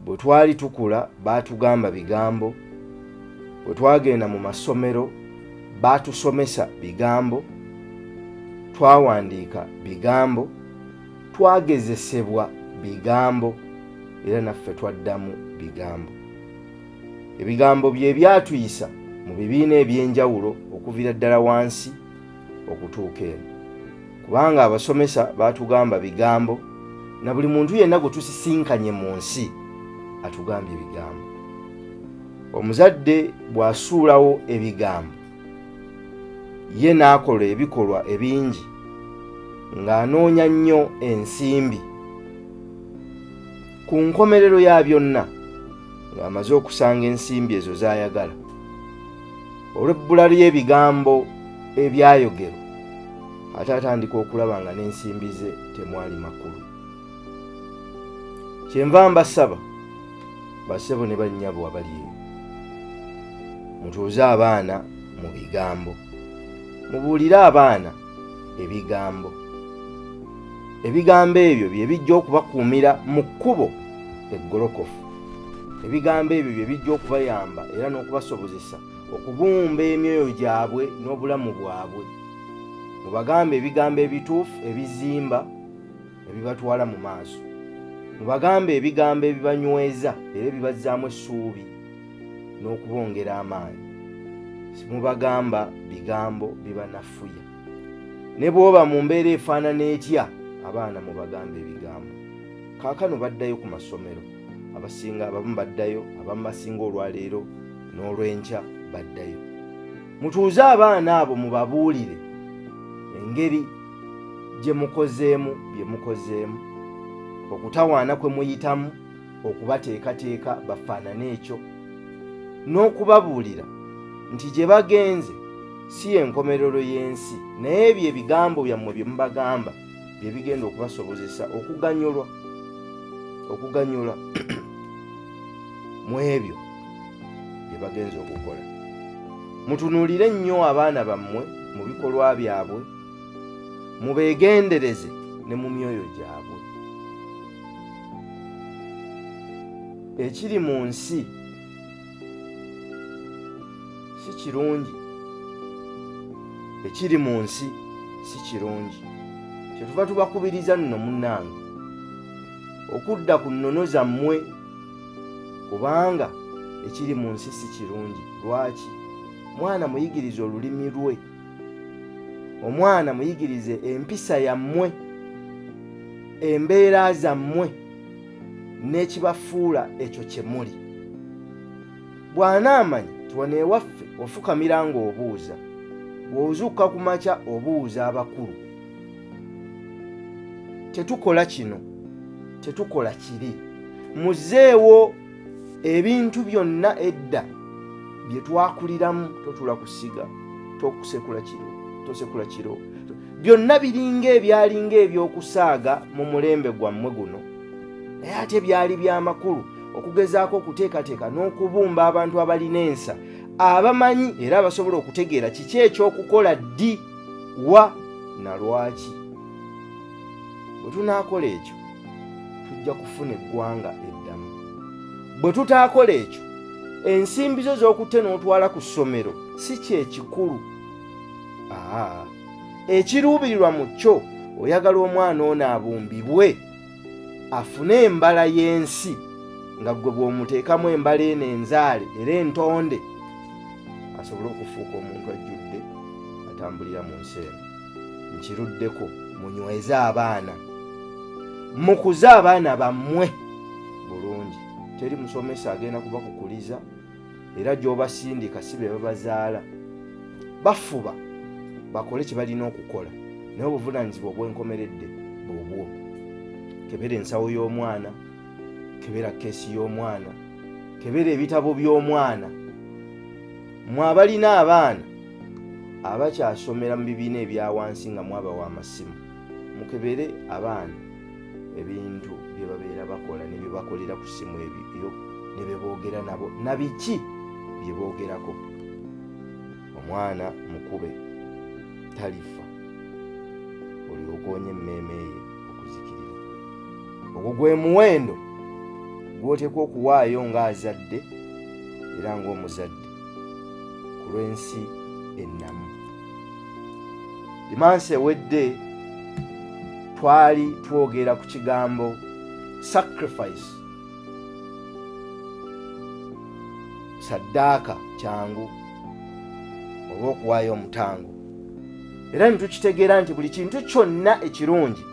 bwe twali tukula baatugamba bigambo bwe twagenda mu masomero baatusomesa bigambo twawandiika bigambo twagezesebwa bigambo era naffe twaddamu bigambo ebigambo bye byatuyisa mu bibiina eby'enjawulo okuviira ddala wansi okutuuka eno kubanga abasomesa baatugamba bigambo na buli muntu yenna gwe tusisinkanye mu nsi atugambye ebigambo omuzadde bw'asuulawo ebigambo ye n'akola ebikolwa ebingi ng'anoonya nnyo ensimbi ku nkomerero ya byonna ng'amaze okusanga ensimbi ezo z'ayagala olw'ebbula ly'ebigambo ebyayogerwa ate atandika okulaba nga n'ensimbi ze temwali makulu kyenva mbasaba basebo ne bannyabo abali eyo mutuuze abaana mu bigambo mubuulire abaana ebigambo ebigambo ebyo bye bijja okubakuumira mu kkubo eggolokofu ebigambo ebyo bye bijja okubayamba era n'okubasobozesa okubumba emyoyo gyabwe n'obulamu bwabwe mubagambe ebigambo ebituufu ebizimba ne bibatwala mu maaso. Mubagambe ebigambo ebibanyweza era ebibazzaamu essuubi n'okubongera amaanyi. Simubagamba bigambo bibanafuya. Ne bw'oba mu mbeera efaanana etya, abaana mubagamba ebigambo. Kaakano baddayo ku masomero. Abasinga abamu baddayo, abamu basinga olwaleero n'olw'enkya baddayo. Mutuuze abaana abo mubabuulire engeri gye mukozeemu bye mukozeemu okutawaana kwe muyitamu okubateekateeka bafaanane ekyo n'okubabuulira nti gye bagenze si y'enkomerero y'ensi naye ebyo ebigambo byammwe bye mubagamba bye bigenda okubasobozesa okuganyulwa okuganyula mu ebyo bye bagenza okukola mutunuulire nnyo abaana bammwe mu bikolwa byabwe mubeegendereze ne mu myoyo gyabwe ekiri mu nsi si kirungi ekiri mu nsi si kirungi kyetuva tubakubiriza nno munnange okudda ku nnono zammwe kubanga ekiri mu nsi si kirungi lwaki mwana muyigiriza olulimi lwe omwana muyigirize empisa yammwe embeera zammwe n'ekibafuula ekyo kye muli bw'anaamanya nti wano ewaffe ofukamira ng'obuuza bw'ozuuka ku makya obuuza abakulu tetukola kino tetukola kiri muzeewo ebintu byonna edda bye twakuliramu totula ku ssiga tokusekula kiro tosekula kiro byonna biringa ebyalinga ebyokusaaga mu mulembe gwammwe guno naye ate byali byamakulu okugezaako okuteekateeka n'okubumba abantu abalina ensa abamanyi era abasobola okutegeera kiki ekyokukola ddi wa na lwaki Bwe tunaakola ekyo, tujja kufuna eggwanga eddamu. Bwe tutaakola ekyo, ensimbi zo z'okutte n'otwala ku ssomero si kyekikulu. Aa, ekiruubirirwa mu kyo oyagala omwana ono abumbibwe afune embala y'ensi nga ggwe bw'omuteekamu embala eno enzaale era entonde asobole okufuuka omuntu ajjudde atambulira mu nsi eno. nkiruddeko munyweze abaana mukuze abaana bammwe bulungi teri musomesa agenda kuba kukuliza era gy'obasindika si be babazaala bafuba bakole kye balina okukola naye obuvunaanyizibwa obwenkomeredde bwobwo kebera ensawo y'omwana kebera keesi y'omwana kebera ebitabo by'omwana mwabalina abaana abakyasomera mu bibiina ebya wansi nga mwabawa amasimu mukebere abaana ebintu bye babeera bakola ne bye bakolera ku ssimu ebyo ne bye boogera nabo na biki bye boogerako omwana mukube talifa olyoka onye emmeeme ye okuzikirira ogwo gwe muwendo gwoteekwa okuwaayo ng'azadde era ng'omuzadde ku lw'ensi ennamu dimansi ewedde twali twogera ku kigambo sacrifice saddaaka kyangu oba okuwaayo omutango era ne tukitegeera nti buli kintu kyonna ekirungi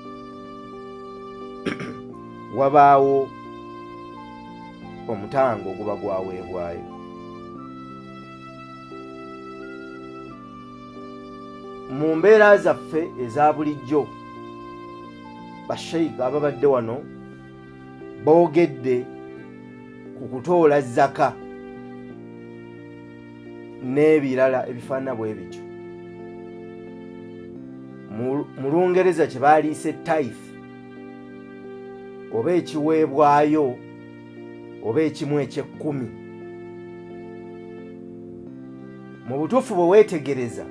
wabaawo omutango oguba gwaweebwayo mu mbeera zaffe eza bulijjo basheiga ababadde wano boogedde ku kutoola zaka n'ebirala ebifaanana bwe bityo mu lungereza kye baaliise tithe oba ekiweebwayo oba ekimu ekyekkumi mu butuufu bwe weetegereza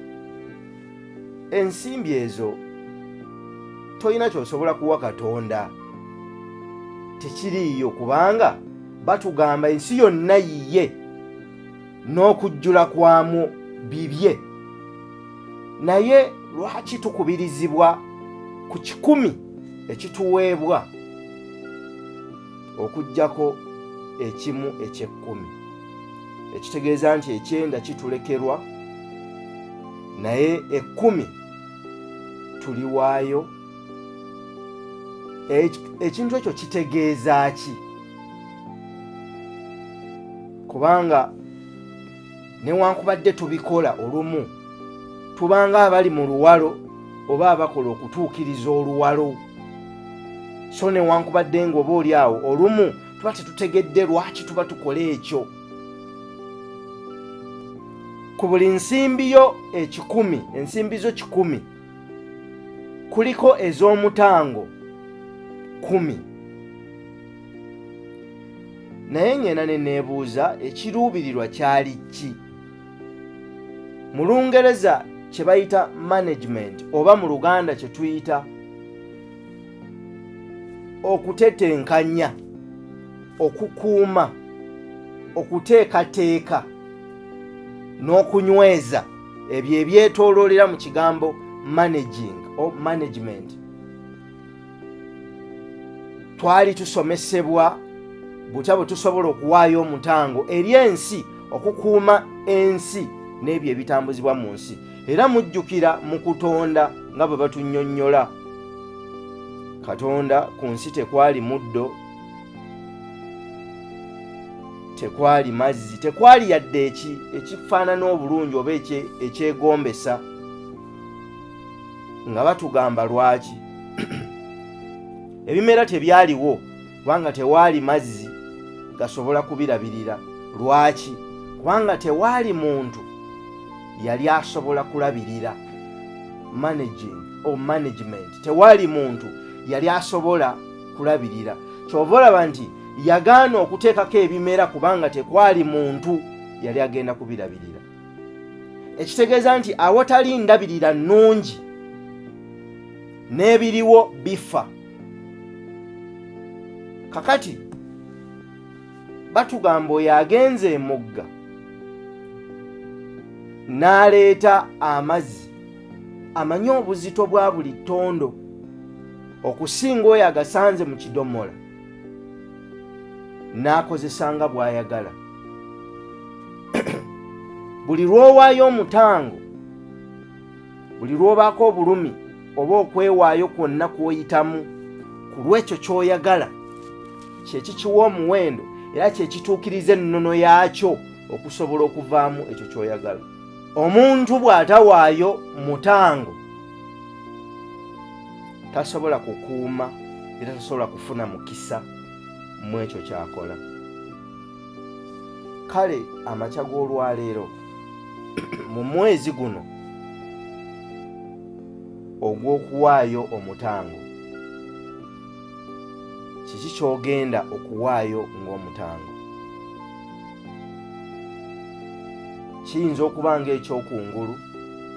ensimbi ezo tolina kyosobola kuwa katonda tekiriiyo kubanga batugamba ensi yonna yiye n'okujjula kwamu bibye naye lwaki tukubirizibwa ku kikumi ekituweebwa okujjako ekimu ekyekkumi ekitegeeza nti ekyenda kitulekerwa naye ekkumi tuliwaayo ekintu ekyo kitegeeza ki kubanga newankubadde tubikola olumu tubanga abali mu luwalo oba abakola okutuukiriza oluwalo so newankubadde nga oba oli awo olumu tuba tetutegedde lwaki tuba tukola ekyo ku buli nsimbi yo ekikumi ensimbi zo kikumi kuliko ez'omutango kumi naye ng'ena ne neebuuza ekiruubirirwa kyali ki mu lungereza kye bayita management oba mu luganda kye tuyita okutetenkanya okukuuma okuteekateeka n'okunyweza ebyo ebyetooloolera mu kigambo managing o management twali tusomesebwa butya bwe tusobola okuwaayo omutango eri ensi okukuuma ensi n'ebyo ebitambuzibwa mu nsi era mujjukira mu kutonda nga bwe batunyonnyola katonda ku nsi tekwali muddo tekwali mazzi tekwali yadde ekifaanana obulungi oba ekyegombesa nga batugamba lwaki ebimera tebyaliwo kubanga tewaali mazzi gasobola kubirabirira lwaki kubanga tewaali muntu yali asobola kulabirira managing or management tewaali muntu yali asobola kulabirira kyova olaba nti yagaana okuteekako ebimera kubanga tekwali muntu yali agenda kubirabirira ekitegeeza nti awatali ndabirira nnungi n'ebiriwo bifa kakati batugamba oyo agenze emugga n'aleeta amazzi amanyi obuzito bwa buli ttondo okusinga oyo agasanze mu kidomola n'akozesanga bw'ayagala buli lw'owaayo omutango buli lw'obaako obulumi oba okwewaayo kwonna kw'oyitamu ku lw'ekyo ky'oyagala kye kikiwa omuwendo era kye kituukiriza ennono yaakyo okusobola okuvaamu ekyo ky'oyagala omuntu bw'atawaayo mutango tasobola kukuuma era tasobola kufuna mukisa mu ekyo kyakola kale amakya g'olwaleero mu mwezi guno ogw'okuwaayo omutango kiki ky'ogenda okuwaayo ng'omutango kiyinza okuba ng'ekyokungulu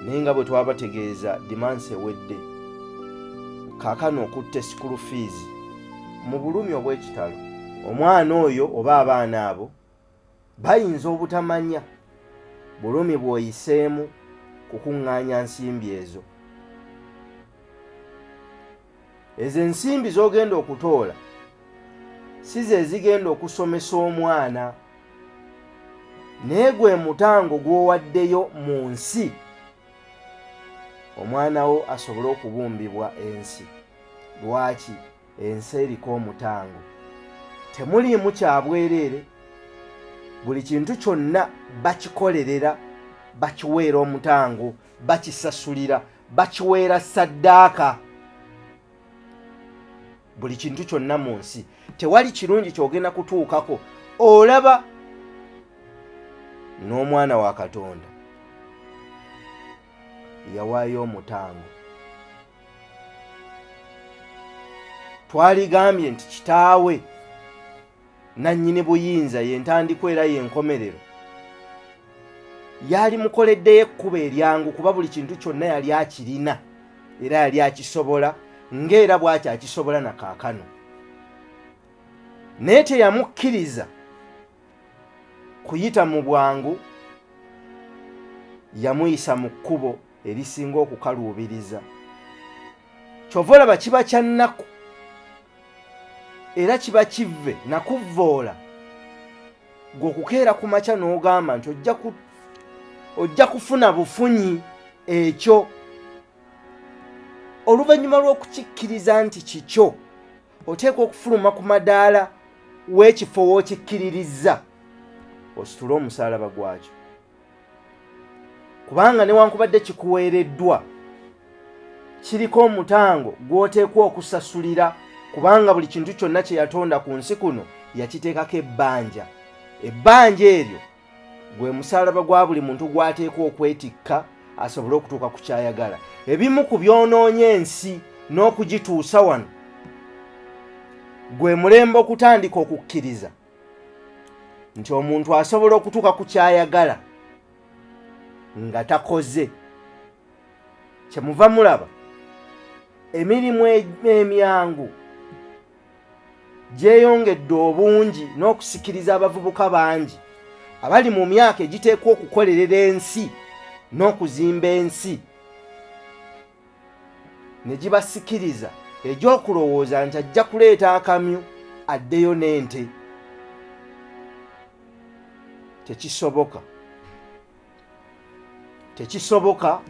naye nga bwe twabategeeza dimansi ewedde kaakano okutta esikulu fiizi mu bulumi obw'ekitalo omwana oyo oba abaana abo bayinza obutamanya bulumi bw'oyiseemu kukuŋŋaanya nsimbi ezo ezo ensimbi z'ogenda okutoola si ze zigenda okusomesa omwana naye gwe mutango gw'owaddeyo mu nsi omwana wo asobole okubumbibwa ensi lwaki ensi eriko omutango temuliimu kyabwereere buli kintu kyonna bakikolerera bakiweera omutango bakisasulira bakiweera saddaaka buli kintu kyonna mu nsi tewali kirungi kyogenda kutuukako olaba n'omwana wa katonda yawaayo omutango twaligambye nti kitaawe nannyini buyinza ye ntandikwa era ye nkomerero yali mukoleddeyo ekkubo eryangu kuba buli kintu kyonna yali akirina era yali akisobola ng'era bw'aty akisobola na kaakano naye teyamukkiriza kuyita mu bwangu yamuyisa mu kkubo erisinga okukaluubiriza kyova olaba kiba kyannaku era kiba kivve nakuvvoola gwe okukeera ku makya n'ogamba nti ojja kufuna bufunyi ekyo oluvannyuma lw'okukikkiriza nti kikyo oteekwa okufuluma ku madaala w'ekifo w'okikkiririzza ositule omusaalaba gwakyo kubanga newankubadde kikuweereddwa kiriko omutango gw'oteekwa okusasulira kubanga buli kintu kyonna kye yatonda ku nsi kuno yakiteekako ebbanja ebbanja eryo gwe musalaba gwa buli muntu gw'ateekwa okwetikka asobole okutuuka ku kyayagala ebimu ku byonoonye ensi n'okugituusa wano gwe mulembe okutandika okukkiriza nti omuntu asobola okutuuka ku kyayagala nga takoze kyemuva mulaba emirimu emyangu gyeyongedde obungi n'okusikiriza abavubuka bangi abali mu myaka egiteekwa okukolerera ensi n'okuzimba ensi ne gibasikiriza egy'okulowooza nti ajja kuleeta akamyu addeyo n'ente tekisoboka tekisoboka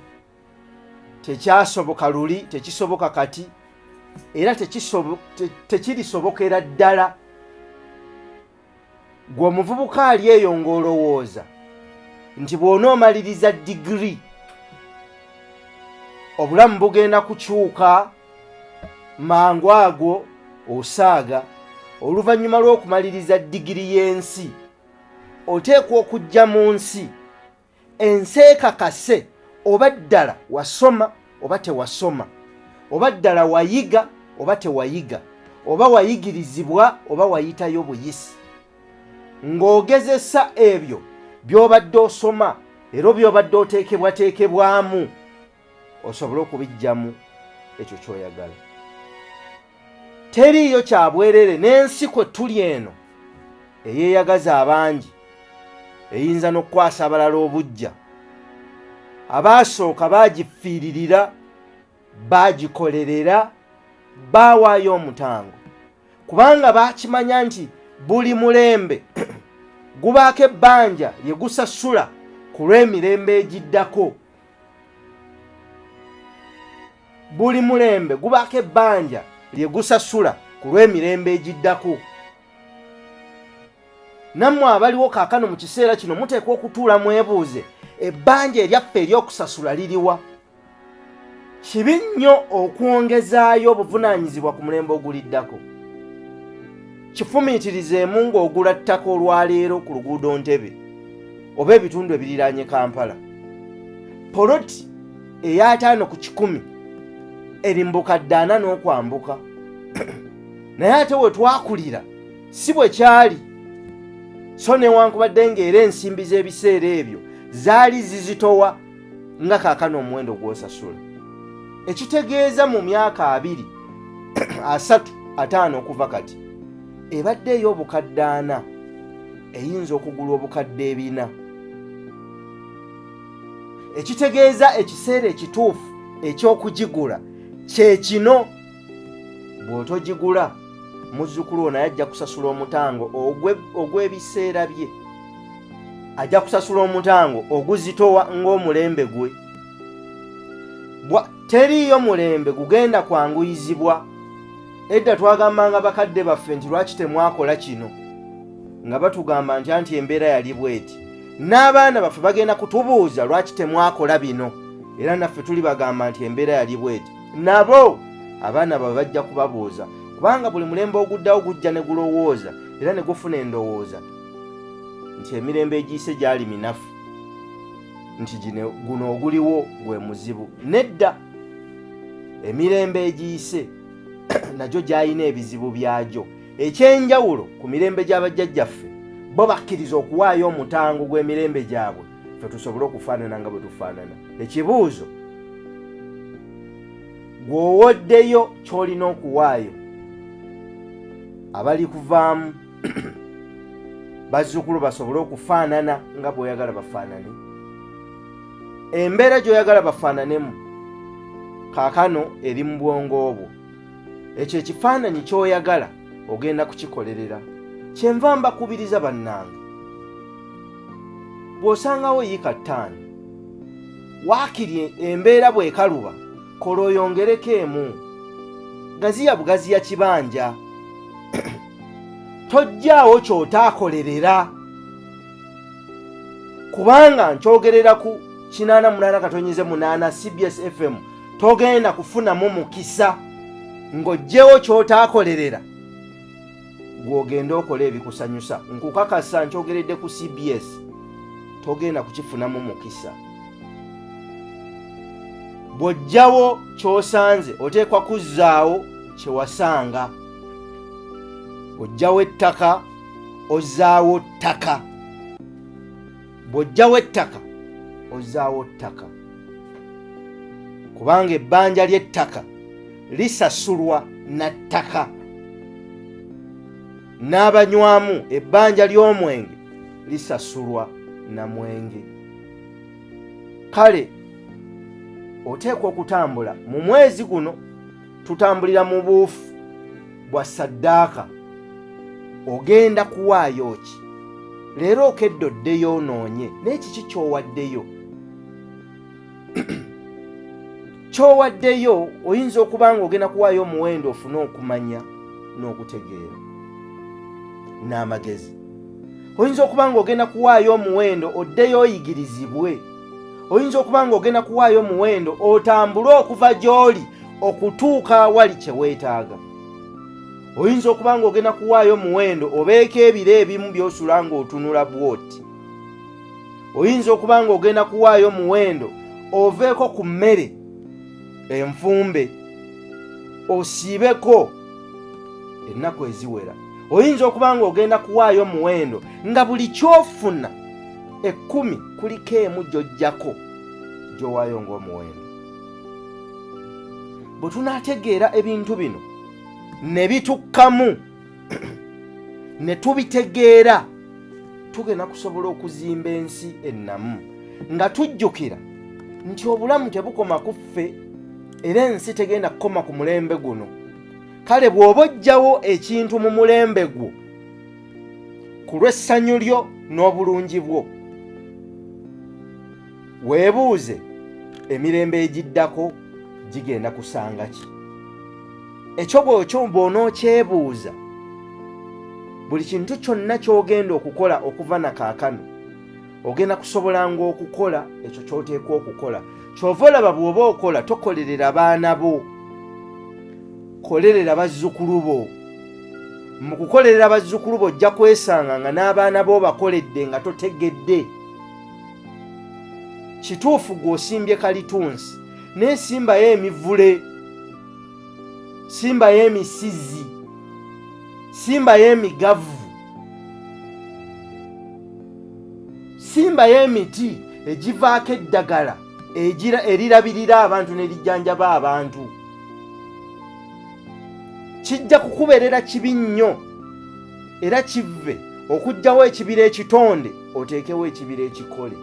tekyasoboka luli tekisoboka kati era tekirisobokera ddala gwe omuvubuka ali eyo ng'olowooza nti bw'onoomaliriza digiri obulamu bugenda kukyuka mangu ago osaaga oluvannyuma lw'okumaliriza digiri y'ensi oteekwa okujja mu nsi ensi ekakase oba ddala wasoma oba tewasoma oba ddala wayiga oba tewayiga oba wayigirizibwa oba wayitayo buyisi ng'ogezesa ebyo by'obadde osoma era by'obadde oteekebwateekebwamu osobole okubijjamu ekyo kyoyagala teriiyo kyabwerere n'ensi kwe tuli eno eyeeyagaza abangi eyinza n'okukwasa abalala obujja abaasooka baagifiiririra baagikolerera baawaayo omutango kubanga baakimanya nti buli mulembe gubaako ebbanja lye gusasula ku lw'emirembe egiddako buli mulembe gubaako ebbanja lye gusasula ku lw'emirembe egiddako nammwe abaliwo kaakano mu kiseera kino muteekwa okutuula mwebuuze ebbanja eryaffe ery'okusasula liriwa kibi nnyo okwongezaayo obuvunaanyizibwa ku mulembe oguliddako kifumiitirizeemu ng'ogula ttaka olwaleero ku luguudo ntebe oba ebitundu ebiriraanye kampala poloti eyataano ku kikumi erimbuka ddaana n'okwambuka naye ate we twakulira si bwe kyali so newankubadde ng'era ensimbi z'ebiseera ebyo zaali zizitowa nga kaakano omuwendo gw'osasula ekitegeeza mu myaka abiri asatu ataano okuva kati ebadde ey'obukadde ana eyinza okugula obukadde ebina ekitegeeza ekiseera ekituufu eky'okugigula kye kino bw'otogigula muzzukulu wo naye ajja kusasula omutango ogw'ebiseera bye ajja kusasula omutango oguzitowa ng'omulembe gwe teriiyo mulembe gugenda kwanguyizibwa edda twagambanga bakadde baffe nti lwaki temwakola kino nga batugamba nti anti embeera yali bweti n'abaana baffe bagenda kutubuuza lwaki temwakola bino era naffe tulibagamba nti embeera yali bweti nabo abaana bawe bajja kubabuuza kubanga buli mulembe oguddawo gujja ne gulowooza era ne gufuna endowooza nti emirembe egiyise gyali minafu nti guno oguliwo gwe muzibu nedda emirembe egiyise nagyo gyalina ebizibu byagyo ekyenjawulo ku mirembe gy'abajjajjaffe bo bakkiriza okuwaayo omutango gw'emirembe gyabwe fe tusobole okufaanana nga bwe tufaanana ekibuuzo gw'owoddeyo ky'olina okuwaayo abali kuvaamu bazzukulu basobole okufaanana nga bw'oyagala bafaanane embeera gy'oyagala bafaananemu kaakano eri mu bwongo obwo ekyo ekifaananyi ky'oyagala ogenda kukikolerera kyenva mbakubiriza bannange bw'osangawo yiika ttaano waakiri embeera bw'ekaluba kola oyongereko emu gaziya bugaziya kibanja tojjaawo ky'otaakolerera kubanga nkyogerera ku kinaana munaana katonyize munaana cbs fm togenda kufunamu mukisa ng'oggyewo ky'otaakolerera gw'ogenda okola ebikusanyusa nkukakasa nkyogeredde ku cbs togenda kukifunamu mukisa bw'oggyawo ky'osanze oteekwa kuzzaawo kye wasanga oggyawo ettaka ozzaawo ttaka bw'oggyawo ettaka ozzaawo ttaka kubanga ebbanja ly'ettaka lisasulwa na ttaka n'abanywamu ebbanja ly'omwenge lisasulwa na mwenge kale oteekwa okutambula mu mwezi guno tutambulira mu buufu bwa saddaaka ogenda kuwaayo ki leero okedde oddeyo onoonye naye kiki kyowaddeyo kyowaddeyo oyinza okuba nga ogenda kuwaayo omuwendo ofune okumanya n'okutegeera n'amagezi oyinza okuba nga ogenda kuwaayo omuwendo oddeyo oyigirizibwe oyinza okuba nga ogenda kuwaayo omuwendo otambule okuva gy'oli okutuuka awali kye weetaaga oyinza okuba nga ogenda kuwaayo omuwendo obeeko ebiro ebimu by'osula ng'otunula bwoti oyinza okuba nga ogenda kuwaayo omuwendo oveeko ku mmere enfumbe osiibeko ennaku eziwera oyinza okuba nga ogenda kuwaayo omuwendo nga buli kyofuna ekkumi kuliko emu gy'ojjako gy'owaayo ng'omuwendo bwe tunaategeera ebintu bino ne bitukkamu ne tubitegeera tugenda kusobola okuzimba ensi ennamu nga tujjukira nti obulamu tebukoma ku ffe era ensi tegenda kukoma ku mulembe guno kale bw'oba ojjawo ekintu mu mulembe gwo ku lw'essanyu lyo n'obulungi bwo weebuuze emirembe egiddako gigenda kusanga ki ekyo bwekyo bwonookyebuuza buli kintu kyonna ky'ogenda okukola okuva na kaakano ogenda kusobolanga okukola ekyo ky'oteekwa okukola kyova olaba bw'oba okola tokolerera baana bo kolerera bazzukulu bo mu kukolerera bazzukulu bo ojja kwesanga nga n'abaana bo bakoledde nga totegedde kituufu gw'osimbye kalitunsi naye simbayo emivule simbayo emisizi simbayo emigavu simbayo emiti egivaako eddagala erirabirira abantu ne lijjanjaba abantu kijja kukubeerera kibi nnyo era kivve okugjawo ekibira ekitonde oteekewo ekibira ekikole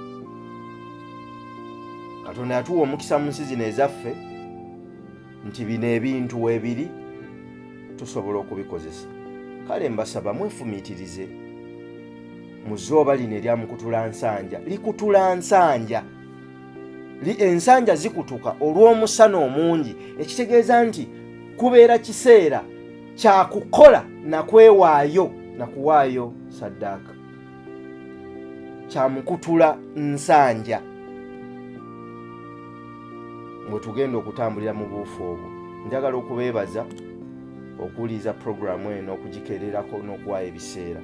katonda yatuwa omukisa mu nsi zino ezaffe nti bino ebintu weebiri tusobola okubikozesa kale mbasaba mwefumiitirize mu zooba lino erya mukutula nsanja likutula nsanja ensanja zikutuka olw'omusana omungi ekitegeeza nti kubeera kiseera kyakukola nakwewaayo nakuwaayo saddaaka kyamukutula nsanja mwe tugenda okutambulira mu buufu obwo njagala okubeebaza okuwuliriza puroguramu eno okugikererako n'okuwaayo ebiseera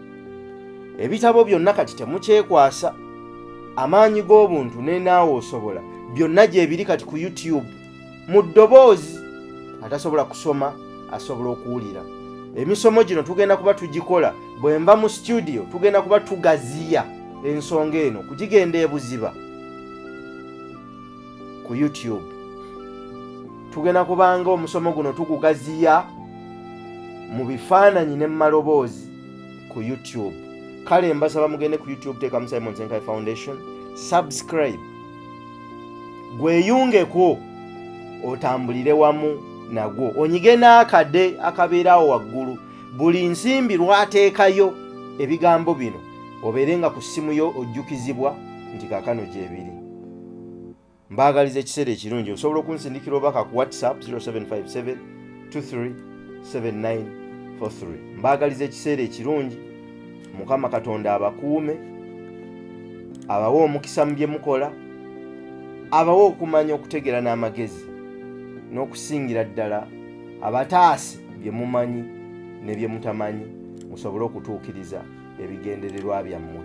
ebitabo byonna kati temukyekwasa amaanyi g'obuntu nenaawe osobola byonna gyebiri kati ku youtube mu ddoboozi atasobola kusoma asobola okuwulira emisomo gino tugenda kuba tugikola bwe nva mu situdiyo tugenda kuba tugaziya ensonga eno kugigenda ebuziba ku youtube tugenda kubanga omusomo guno tugugaziya mu bifaananyi ne mu maloboozi ku youtube kale mbasaba mugende ku youtube teekamu simon senkai foundation subscribe gweyungeko otambulire wamu nagwo onyige n'akade akabeeraawo waggulu buli nsimbi lwateekayo ebigambo bino obeere nga ku ssimu yo ojjukizibwa nti kakano gyebiri mbaagaliza ekiseera ekirungi osobola okunsindikira obubaka ku whatsapp 0757 237943 mbaagaliza ekiseera ekirungi mukama katonda abakuume abawe omukisa mu bye mukola abawe okumanya okutegeera n'amagezi n'okusingira ddala abataasi bye mumanyi ne bye mutamanyi musobole okutuukiriza ebigendererwa byammwe